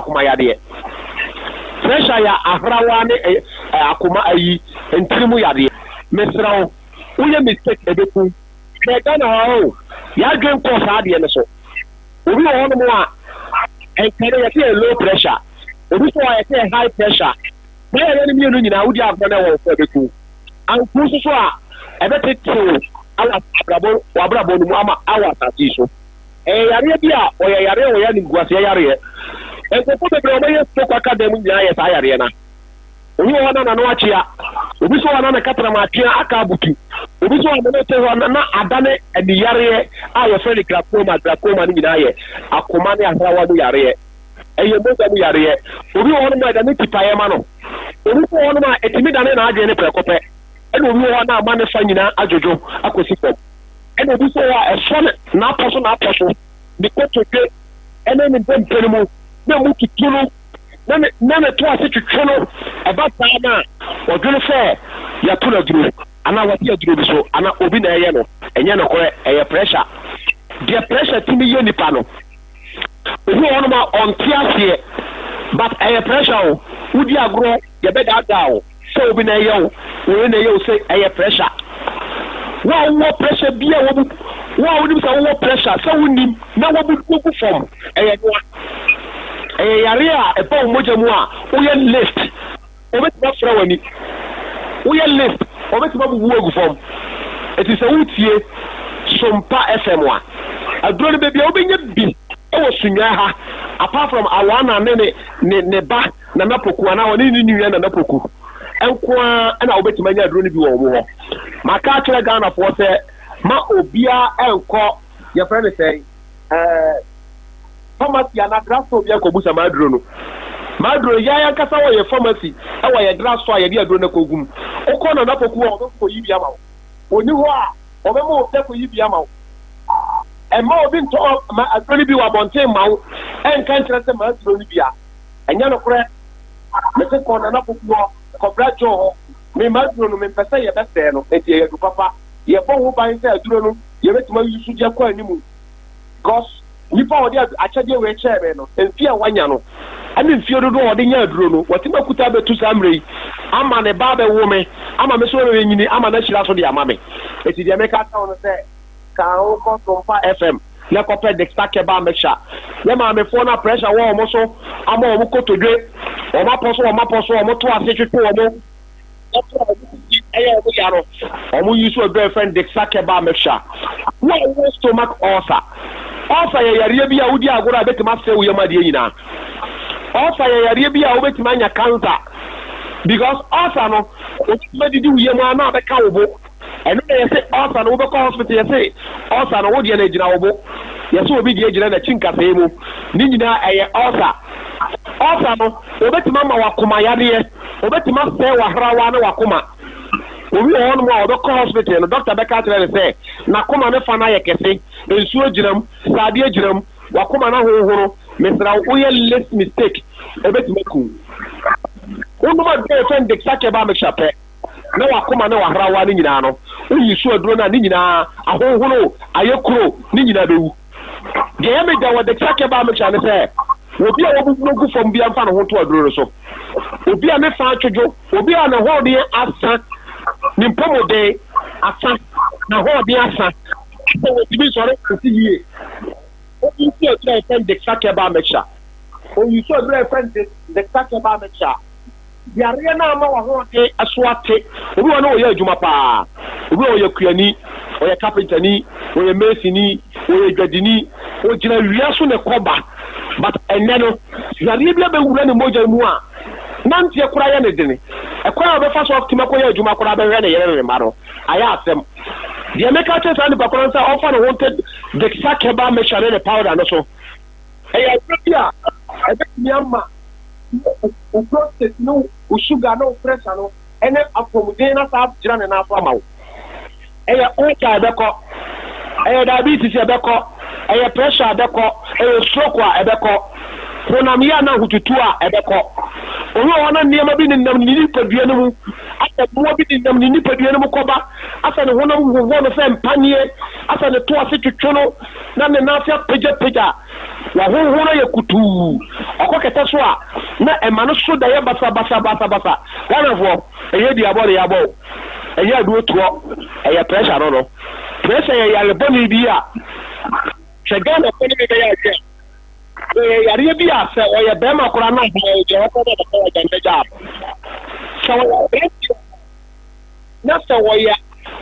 akoma yadeɛ. Pressure ya ahrawa ne ɛɛ akoma ayi ntiri mu yadeɛ. Mesrɛ wo wo yɛ mistake ɛbɛkum. Hwɛ Ghana ha oo yadwen nkɔɔ saa adeɛ no so. Obi wɔ hɔ nom a ɛnka no yɛse ɛyɛ low pressure. Obi nso wɔ hɔ a yɛse ɛyɛ high pressure. Saa yareɛ no mmienu nyinaa wodi agorɔ na ɛwɔ wo so a ɛbɛku wo. Anku nso so a ɛbɛtete wo wɔ abrabɔ no mu ama wɔ asase yi so. Ɛyɛ yareɛ bi a ɔyɛ yareɛ a ɔyɛ animguaseɛ yareɛ. Nkurɔfoɔ bebree a wɔyɛ stroke aka dan mu nyinaa yɛ saa yareɛ no. Obi wɔ hɔ na n'ano akyea, obi nso wɔ hɔ na ne katanam atwea aka abutu, obi nso wɔ hɔ na ne te hɔ na na adane aniyareɛ a yɛfrɛ no glaucoma. Glaucoma no nyinaa yɛ akoma ne ahrawa mu yareɛ. Ɛyɛ mogya mu yareɛ. Obi wɔ hɔnom a ɛdane tipaeɛ ma no. Obi nso wɔ hɔnom a ɛtumi dane n'adwene no prɛko pɛ. Ɛna obi wɔ hɔ na ama ne fa nyinaa adwodwo akɔsi fam. Ɛna obi sɛ a ɛsɔ no n'apɔ so n'apɔ so, ne kotodwe ne ne ndompe no mu, na emu tutu no, na ne na ne to ase twetwe no. Ɛba saa no a, ɔdwene sɛ yɛato no aduro, anaa wate aduro bi so, anaa obi na ɛreyɛ no. Ɛnyɛ nokorɛ, ɛyɛ pressure. Deɛ pressure tumi yɛ nipa no, obi wɔ hɔnom a ɔnte aseɛ, but ɛyɛ pressure o. Wodi agorɔ, yɛbɛdaadaa wo. Sɛ obi na ɛyɛ wo, wo yere na ɛyɛ wo sɛ ɛyɛ pressure. Wo a wowɔ pressure bi a wabu, wo a wonim sɛ wowɔ pressure sɛ wonnim na wabu wogu fam, ɛyɛ noa. Ɛyɛ yareɛ a ɛba wo mogya mu a woyɛ list, wɔbɛtumi afra w'ani. Woyɛ list, wɔbɛtumi abubu wo agu fam. Enti sɛ woretie Sompa FM a, aduro no bɛbi a wobɛnya bi wɔ Sunyani ha apart from Awana ne ne ne ba. Nana Poku anaa ɔne ne nua Nana Poku nko ara na wobɛtumi anya aduro no bi wɔ wɔn hɔ. Maka akyerɛ Ghanafoɔ sɛ ma obiara nkɔ yɛfrɛ no sɛn ɛɛ pharmacy anaa drug store bi nkɔbusa m'aduro no. M'aduro no yɛn ankasa wɔ yɛn pharmacy wɔ yɛn drug store a yɛde aduro no akɔgu mu. Wokɔ Nana Poku hɔ a wɔbɛkɔ kɔyi bi ama wo. Wɔnni hɔ a wɔbɛma obi akɔyi bi ama wo. Mma obi ntɔ aduro no bi wɔ abɔnten mma wo nka nkyerɛ sɛ m'aduro no bi a. Ɛnyɛ nokorɛ. Mese kɔ Nana Pokuɔ, kɔbra Joe hɔ. Mema aduro no, mempɛsɛ yɛbɛsɛɛ no, enti ɛyɛ adu papa. Yɛbɔ ho ban sɛ aduro no yɛbɛtumi ayusu so de akɔ animu. Because nipa a ɔde akyɛdeɛ wei kyɛɛ me no, mfeɛ a wanya no, ɛne mfeɛ dodoɔ a ɔde nya aduro no, watumi akuta abɛtu saa mmerɛ yi ama ne ba abɛwo me, ama me nso mɛnyini ama no ahyira so de ama me. Enti deɛ meka akyerɛ wo no sɛ, ka wo kɔ Sompa FM. na kɔpɛ Dexta Keba a mɛhyɛ yɛ maamefoɔ no a pressure wɔ wɔn so ama wɔn kotodwe, wɔn apɔ so wɔn apɔ so, wɔn to ase twetwe wɔn ho, wɔn a wɔn sisi yɛ wɔn ya no, wɔn use aduro a yɛfrɛ no Dexta Keba a mɛhyɛ. Wo a wowɔ stomach ulcer, ulcer yɛ yareɛ bi a wodi agorɔ a ɛbɛtumi asɛe wo yam adeɛ nyinaa. Ulcer yɛ yareɛ bi a wobɛtumi anya cancer because ulcer no, ɛbɛtumi adidi wo yam ara na abɛka wo bo. Ɛno na yɛse ulcer no wobɛkɔ hospital yɛse ulcer no wodeɛ no agyina wo bo yɛse obi deɛ agyina nakyi nkasɛɛ mu ne nyinaa ɛyɛ ulcer ulcer no obetumi ama wo akoma yadeɛ obetumi asɛe wahrawa ne wakoma obi wɔ hɔnom a ɔbɛkɔ hospital no doctor bɛka akyerɛ no sɛ nakoma ne fa no ayɛ kɛse nsuo agyina mu sɛ adeɛ agyina mu wakoma no ahohoro mesrɛ wo woyɛ less mistake ɛbɛtumi aku wonom aduro yɛfɛ no dexacare ba mixture pɛ. na w'akoma ne w'ahrawa no nyinaa no, woyi so aduro no a, ne nyinaa ahonhono, ayɛ kuro, ne nyinaa bɛwu. Deɛ ɛyɛ me dɛ wɔ Dexia Kebaa Mixture ne sɛ, obi a wabubu agu fam biara mfa ne ho nto aduro no so. Obi a ne fa atwodwo, obi a n'ahoɔden asa, ne mpɔmuden asa, n'ahoɔden asa, sɛ wɔntumi nsɔre nsi yie, ɔnyi so aduro a yɛfrɛ no Dexia Kebaa Mixture. Ɔnyi so aduro a yɛfrɛ no Dexia Kebaa Mixture. Yareɛ no ama w'ahoɔden so ate. Obi wɔ hɔ no, ɔyɛ adwuma pa ara. Obi wɔ hɔ, ɔyɛ kuani, ɔyɛ kapentani, ɔyɛ masonni, ɔyɛ dwadini, ɔgyina awia so na ɛkɔ ba. But ɛnnɛ no, yareɛ bi abɛwura ne mogya mu a, nanteɛ koraa yɛ no den. Ɛkwan a ɔbɛfa so atumi akɔyɛ adwuma koraa, abɛhwɛ ne yere ne ne mma no, ayɛ asɛm. Deɛ meka akyerɛ saa nipa korɔ no sɛ ɔmfa ne ho nto Dick Sackey Bar Mixture ne ne powder no so. Ɛyɛ adwuma bi a ɛbɛtumi ama wo prostate ne wo sugar ne wo pressure no ne apɔmuden no asan agyina ne nan so ama wo. Ɛyɛ ulcer a ɛbɛkɔ, ɛyɛ diabetes a ɛbɛkɔ, ɛyɛ pressure a ɛbɛkɔ, ɛyɛ stroke a ɛbɛkɔ, honamyɛ ne ahotutuo a ɛbɛkɔ. Obi wɔ hɔ na nneɛma bi nenam ne nipadua no mu, asɛ mmoa bi nenam ne nipadua no mu kɔba, asɛ ne honam hohoro no sɛ mpaneɛ, asɛ ne to ase twetwe no, na ne nan ase apagyapagya, w'ahonhon no ayɛ kutuu, ɔkɔ kɛtɛ so a na ɛma no so da yɛ basabasa basabasa, Ghanafoɔ ɛnyɛ dua bɔ ne yabɔ o, ɛnyɛ aduro toɔ, ɛyɛ pressure no no, pressure yɛ yare bɔne bi a sɛ Ghanafoɔ ne me bɛyɛ adwene a ɛyɛ yareɛ bi a sɛ ɔyɛ barima koraa na ɔbaa o deɛ ɔbɛkɔ na ɔbɛkɔ agya no bɛgya no, sɛ ɔyɛ aberanteɛ. na sɛ wɔyɛ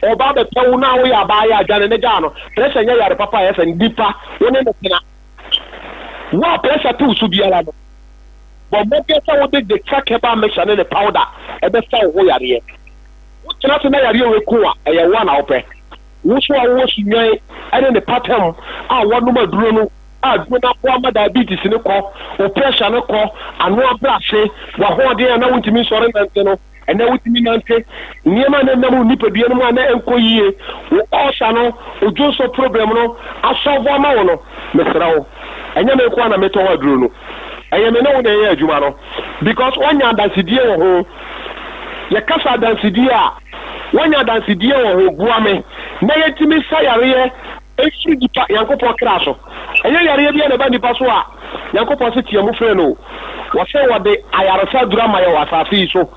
a ɔba abɛpɛ wo na woyɛ a baayɛ a dwane ne gaa no. Pressure nyɛ yare papa a ɛyɛ fɛ, nipa wo ne no tena. Wo a pressure te wo so biara no, bɔ mmɔden sɛ wode Detrack-herbal mixture ne ne powder bɛsa wo ho yareɛ. Wo tena ase na yareɛ wei ko wo a, ɛyɛ wo a na wopɛ. Wo nso a wowɔ sunyan ne ne pata mu a woanom aduro no a aduro no aboa ma diabetes no kɔ, wo pressure no kɔ, ano abrɛ ase, w'ahoɔden a na wontumi nsɔre nnante no Ɛnnɛ wotumi nante nneɛma a na ɛnam nipadua no mu a na ɛnkɔ yiye wɔ ɔɔsa no odwonsɔ probrɛm no asɔlvo ama wo no. Mesrɛ wo, ɛnyɛ me nko ara na metɔn aduro no. Ɛyɛ me ne wo na ɛyɛ adwuma no because woanya adansedie wɔ ho. Yɛkasa adansedie a, woanya adansedie wɔ ho? Boa me na yɛntumi nsa yareɛ mfiri nipa, Nyankopɔn kra so. Ɛnyɛ yareɛ biara na ɛba nipa so a. Nyankopɔn se teamu free no, wɔse wɔde ayaresa aduru ama yɛn wɔ asaase yi so,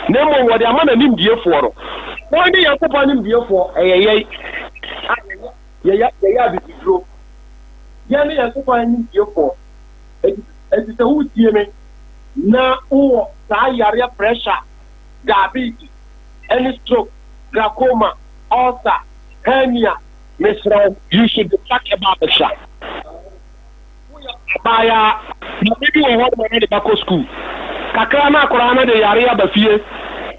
na mmom wɔde ama N'animdiefoɔ no. Wɔn ne Nyankopɔn animdiefoɔ, ɛyɛ yɛn a yɛyɛ yɛyɛ abibiduro. Yɛn ne Nyankopɔn animdiefoɔ, enti enti sɛ woretie Me na wowɔ saa yareɛ pressure, diabetes, ɛne stroke, glaucoma, ulcer, hernia, mesrɛ wo, you should be tracked ba abɛsra. Woyɛ abaayaa, maame bi wɔ hɔ de wɔn de ba kɔ sukuu. Kakra na akwadaa no de yareɛ aba fie.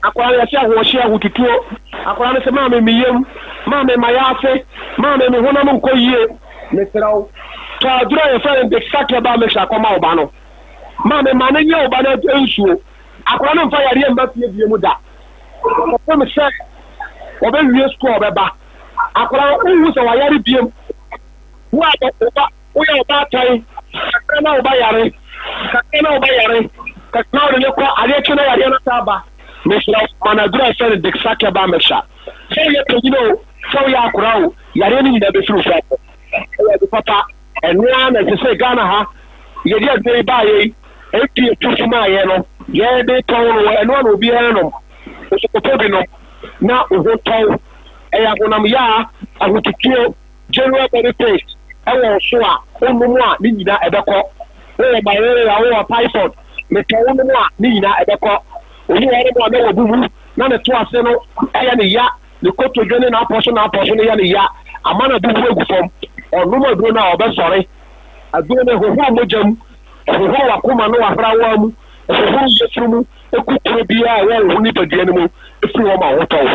Akwadaa no yɛse ahoɔhyeɛ, ahotutuo. Akwadaa no se, maame me yam, maame m'ayaase, maame me honam nkɔ yie. Mesrɛ wo, tɔ aduro a yɛfrɛ no Dexaquebal mixture kɔma wo ba no. Maame ma no nyɛ wo ba no nsuo. Akwadaa no mfa yareɛ mma fie bio mu da. Kɔpem sɛ ɔbɛwie sukuu a ɔbɛba. Akwadaa no, wonhu sɛ wayare bio. Wo a wo ba, woyɛ ɔbaatan, kakra na wo ba yare, kakra na wo ba yare, kakra na wode no kɔ, adeɛ kye na yareɛ no taa ba, mesrɛ wo, ma no aduro a yɛfrɛ no Dexakeba Mixture. Sɛ woyɛ panyin o, sɛ woyɛ akwadaa o, yareɛ no nyinaa bɛfiri wo so akɔ. Ɛyɛ ade papa. Ɛno ara na ɛsɛ sɛ Ghana ha, yɛde aduro yi baeɛ yi, FDA too so maa yɛn no, yɛde tɔn no, ɛno ara na obiara nom. Nso kɔtɔ bi nom na wo ho tɔ wo. Ɛyɛ ahonam yaa, ahotutuo. General body paste wɔ ɔso a wo nom a ne nyina ɛbɛkɔ. Wo wɔ malaria, wo wɔ typhoid, me tɔ wo nom a ne nyina ɛbɛkɔ. Obi wɔ hɔnom a na wabu mu na ne to ase no yɛ no ya, ne kotodwe ne n'apɔso n'apɔso no yɛ no ya ama no abubu agu fam. Ɔnom aduro no a ɔbɛsɔre. Aduro no ɛhohoro mogya mu, ɛhohoro w'akoma ne w'ahrawa mu, ɛhohoro yafunu mu, ɛkukuro biara a ɛwɔ wo ho nipadua no mu firi hɔ ma ho tɔ wo.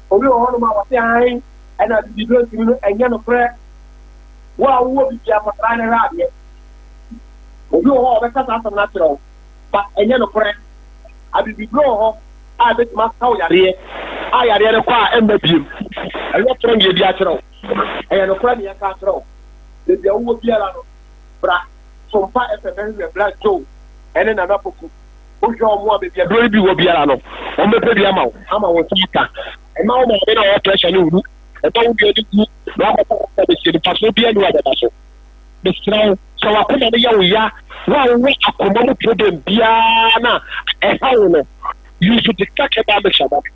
Obi wɔ hɔnom a ɔte hann na atitiriw ntumi no, ɛnyɛ nokorɛ. Wo a wowɔ biribiara, kɔtra na hwɛ adeɛ. Obi wɔ hɔ a ɔbɛka saa asɛm no akyerɛ wo, but ɛnyɛ nokorɛ. Abibiduro wɔ hɔ a ɛbɛtumi asa wo yareɛ a yareɛ no kɔ a ɛmma bio. Ɛnyɛ kyerɛ nea obi akyerɛ wo, ɛyɛ nokorɛ nea yɛka akyerɛ wo. Baabi a wowɔ biara no, bra Sompa FM bɛhwehwɛ Bra Joe ne Nana Poku. Wohwɛ wɔn a baabi aduro no bi wɔ biara no, wɔbɛpɛ bi ama wo, ama wo nsa aka. Ɛma wo maame na ɔwɔ pressure no wu. Ɛma wo nua no wu. Na wakɔfa wo nsa bɛsie no, mfasoɔ biara ni wɔ abɛda so. Mesrɛ wo, sɛ w'akoma no yɛ wo ya, wo a wowɔ akoma mu problem biara na ɛha wo no, you should discuss herbal mixture ma me.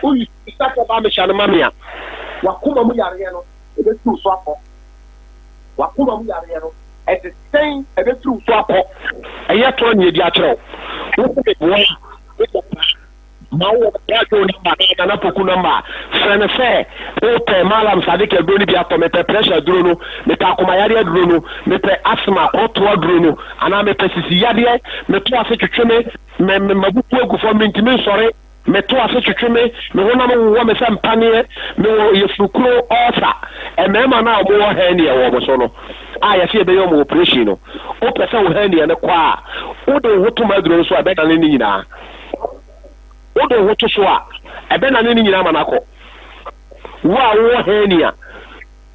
Woyi sika sɛ ba mehyɛ no ma me a, w'akoma mu yareɛ no ɛbɛfiri wo so akɔ. W'akoma mu yareɛ no, ɛte sɛn ɛbɛfiri wo so akɔ? Ɛyɛ to ani adi akyerɛ wo. Wo se meboa a, wobɔ bra. Ma wowɔ Bra Joe nɔmba anaa Nana Poku nɔmba a, frɛ no sɛ wopɛ Mallam Sadiq aduro no bi atɔ, mepɛ pressure aduro no, mepɛ akomayareɛ aduro no, mepɛ asthma, korotoɔ aduro no, anaa mepɛ sisiyadeɛ, meto ase twetwe me, me, me, m'abufuo gu fam, mentumi nsɔre. Meto ase twetwe me, me honam wowɔ me sɛ mpaneɛ, mewɔ yafunukuro, ɔɔsa. Mmarima no a wɔwɔ hernia wɔ wɔn so no, a yɛse yɛbɛyɛ wɔn oprehyɛn no, wopɛ sɛ wo hernia no kɔ a, wode wo ho to m'aduro no so a, ɛbɛdane ne nyinaa. Wode wo ho to so a, ɛbɛdane ne nyinaa ma no akɔ. Wo a wowɔ hernia.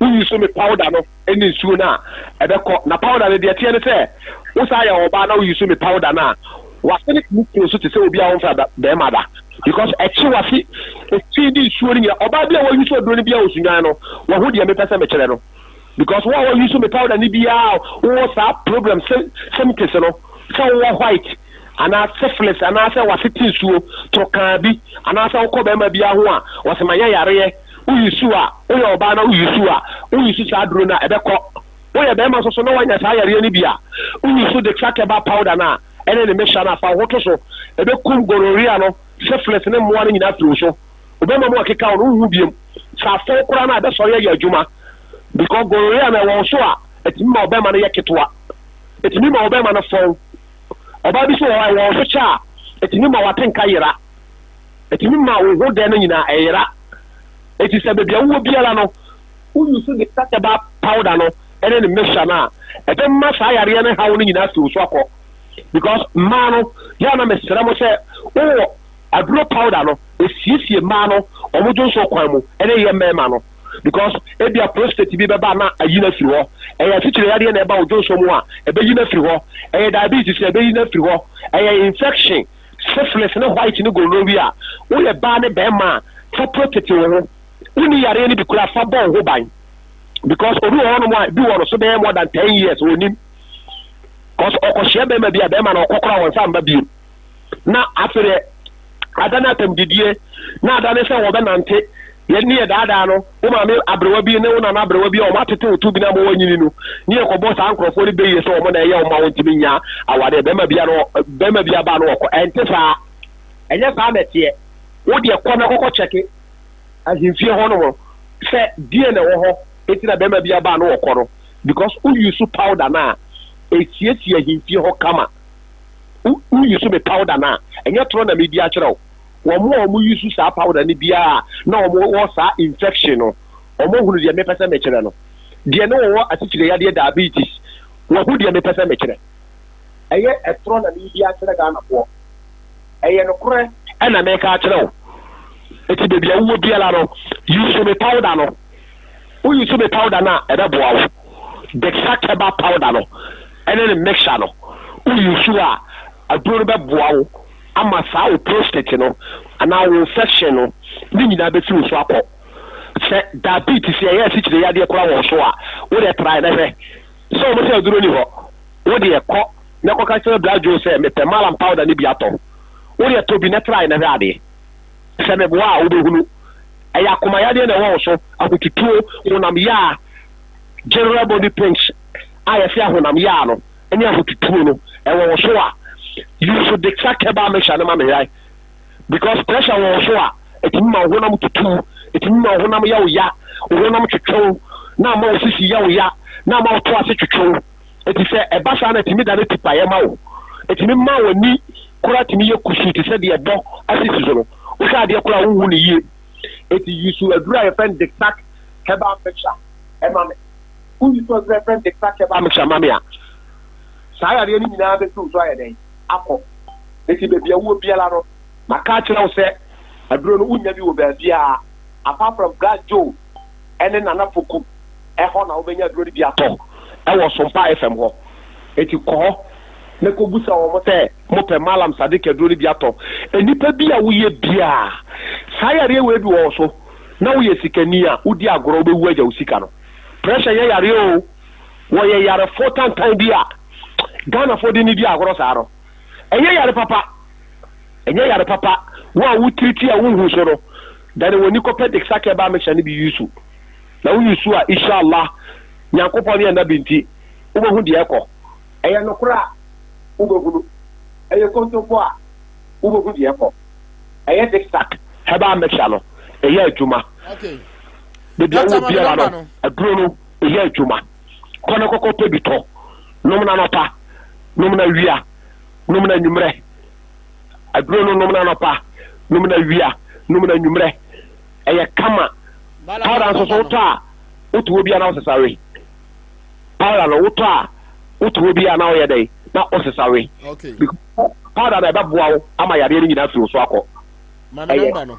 Woyi so me powder no ne nsuo no a, ɛbɛkɔ. Na powder no, deɛ ɛteɛ ne sɛ, wo san yɛ ɔbaa na woyi so me powder no a, w'asene tumi tene so te sɛ obi a wɔmfra da barima da, because ɛkye w'ase efi ne nsuo no nyinaa. Ɔbaa bi a wayi so aduro no biara a ɔsunwan no, wahu deɛ mepɛ sɛ mekyerɛ no. Because wo a woyi so me powder no biara a wowɔ saa problem sym symptoms no, sɛ wowɔ white anaa syphilis anaasɛ w'ase te nsuo, torokaa bi, anaasɛ wokɔ barima biara ho a, ɔsɛ manya yareɛ, wo use a, wo yɛ ɔbaa na wo use a, wo use saa duro no a, ɛbɛkɔ. Wo yɛ bɛɛma nso so na wanya saa yareɛ no bi a, wo use dexakeba powder no a ɛne ne mixture no a, fa wo ho to so. Ɛbɛkum gonorrhea no, syphilis ne mmoa no nyinaa afiri wo so. Wo bɛɛma mu akeka wo no, wonhu biom. Sɛ afɔw koraa no a, ɛbɛsɔre ayɛ adwuma. Because gonorrhea no ɛwɔ wo so a, ɛtumi ma wo bɛɛma no yɛ ketewa. Ɛtumi ma wo bɛɛma no fɔw. Ɔbaa bi nso wɔ hɔ a, ɛwɔ wo so kyɛ a, ɛtumi ma w'atenka yera. ɛtumi ma wo ho dɛ no nyinaa yera. Enti sɛ baabi a wowɔ biara no, wo use ne Cataba powder no ne ne mixture no a, ɛbɛma saa yareɛ no haw no nyinaa afi wo so akɔ. Because mmaa no, yɛ a na mesrɛ mo sɛ wowɔ aduro powder no, ɛsiesie mmaa no wɔn dwonsɔ kwan mu ne yɛ mmarima no. Because ebia prostate bi bɛba na ayi no afiri hɔ. Ɛyɛ atitire yadeɛ na ɛba wo dwonsɔ mu a, ɛbɛyi no afiri hɔ. Ɛyɛ diabetes a, ɛbɛyi no afiri hɔ. Ɛyɛ infection Syphilis ne white ne gonorrhea a woyɛ baa ne bɛɛma a fa protect wo ho wonni yareɛ no bi koraa fa bɔ wo ho ban because obi wɔ hɔ nom a bi wɔ no so bɛyɛ more than ten years onim cause ɔkɔ hyia bɛɛma bi a bɛɛma no ɔkɔ koraa wɔn nsa mba biem na afei deɛ ada ne atam didie na ada ne sɛ wɔbɛ nante yɛ ne yɛ daadaa no wo maame aberewa bi ne wo nana aberewa bi a wɔn atete wo to bi na ma wɔnyini no ne yɛ kɔbɔ saa nkurɔfoɔ no bɛyie sɛ wɔn na ɛyɛ wɔn ma wɔntumi nya awadeɛ bɛrima bia no bɛrima bia baa no wɔkɔ ɛnte saa ɛnyɛ saa na ɛteɛ wo deɛ kɔ na kɔkɔ kyɛke ahemfie hɔ nom sɛ deɛ na ɛwɔ hɔ eti na bɛrima bia baa no wɔkɔ no because wo use powder no a ɛsiesie ahemfie hɔ kama wo use me powder no a ɛnyɛ torɔ na medi akyerɛ wo Wɔn a wɔn use saa powder no biara na wɔn wɔ saa infection no wɔn ahunu deɛ me pɛ sɛ me kyerɛ no deɛ ne wɔwɔ asikyire yadeɛ diabetes wɔn ho deɛ me pɛ sɛ me kyerɛ. Ɛyɛ ɛtorɔ na me redi akyerɛ Ghana foɔ ɛyɛ nokorɛ ɛna me reka akyerɛ wo ɛti baabi a wowɔ biara no use me powder no wo use me powder no a ɛbɛ boa wo Dexa Keba powder no ɛne ne mixture no wo use a aduro no bɛ boa wo ama saa wo prostate no anaa wo infection no ne nyinaa bɛfiri wo so akɔ. Sɛ diabetes yɛ ɛyɛ asikyire yadeɛ koraa wɔ wo so a, wo deɛ try na hwɛ. Sɛ wɔn sɛ aduro nni hɔ, wo deɛ kɔ na kɔka kyerɛ Bra Joe sɛ mepɛ Malam powder no bi atɔ. Wo deɛ tɔ bi na try na hwɛ adeɛ. Sɛ meboa a wobɛhunu. Ɛyɛ akoma yadeɛ na ɛwɔ wo so, ahotutuo, honam yaa, general body pains a yɛse ahonam yaa no. ne ahotutuo no ɛwɔ wo so a you should declare Kebal Mixture no ma me hwae because pressure wɔ wo so a ɛtumi ma wo honam tutu wo, ɛtumi ma wo honam yɛ wo ya, wo honam twetwe wo na ama wo sisi yɛ wo ya na ama wo to ase twetwe wo. Enti sɛ ɛba saa no a ɛtumi dane tipaeɛ ma wo, ɛtumi ma w'ani koraa tumi yɛ kusuu te sɛ deɛ ɛbɔ asisi so no, wohwɛ adeɛ koraa a wonhu no yie. Enti you should aduru a yɛfrɛ no Dictac Herbal Mixture ɛma me. Wonni sɛ Ɔde Rev. Victor Keba Mishamamia. Saa yareɛ no nyinaa bɛsi wo so ayɛ dɛn? Akɔ. Enti baabi a wowɔ biara no, maka akyerɛ wo sɛ aduro no wonnya bi wɔ baabiara apart from Black Joe ne Nana Poku hɔ na wobɛnya aduro no bi atɔ wɔ Sompaa FM hɔ. Enti kɔ hɔ na kɔbisa wɔn sɛ mopɛ Mallam Sadiq aduro no bi atɔ. Nnipa bi a woyɛ biara, saa yareɛ wei bi wɔ wo so na woyɛ sikani a, wodi agorɔ wobɛwu agya wo sika no. Pressure nyɛ yareɛ oo, wɔyɛ yarefo tantan bi a Ghanafoɔ de nidi ahorɔ saa no. Ɛnyɛ yare papa, ɛnyɛ yare papa, wo a wo treati a wo nhu so no, dane w'ani kɔpɛ Dexacare ba mixture no bi use, na wo use a Ishallah Nyankopɔn ne Anabi nti wo bɛhu deɛ ɛkɔ. Ɛyɛ nokorɛ a wo bɛhunu, ɛyɛ kontompo a wo bɛhu deɛ ɛkɔ. Ɛyɛ Dexac herbal mixture no ɛyɛ adwuma. Okay, Baabi a wowɔ biara no, aduro no yɛ adwuma. Kɔ na kɔkɔ pɛ bi tɔ. Nom no anɔpa, nom no awia, nom no anwummerɛ. Aduro no nom no anɔpa, nom no awia, nom no anwummerɛ. Ɛyɛ kama. Powder nso so wotɔ a, woto hɔ biara na wosesa we. Powder no wotɔ a, woto hɔ biara na woyɛ dɛn? Na wosesa we. Powder no ɛbɛboa wo ama yadeɛ no nyinaa afiri wo so akɔ. Ɛyɛ.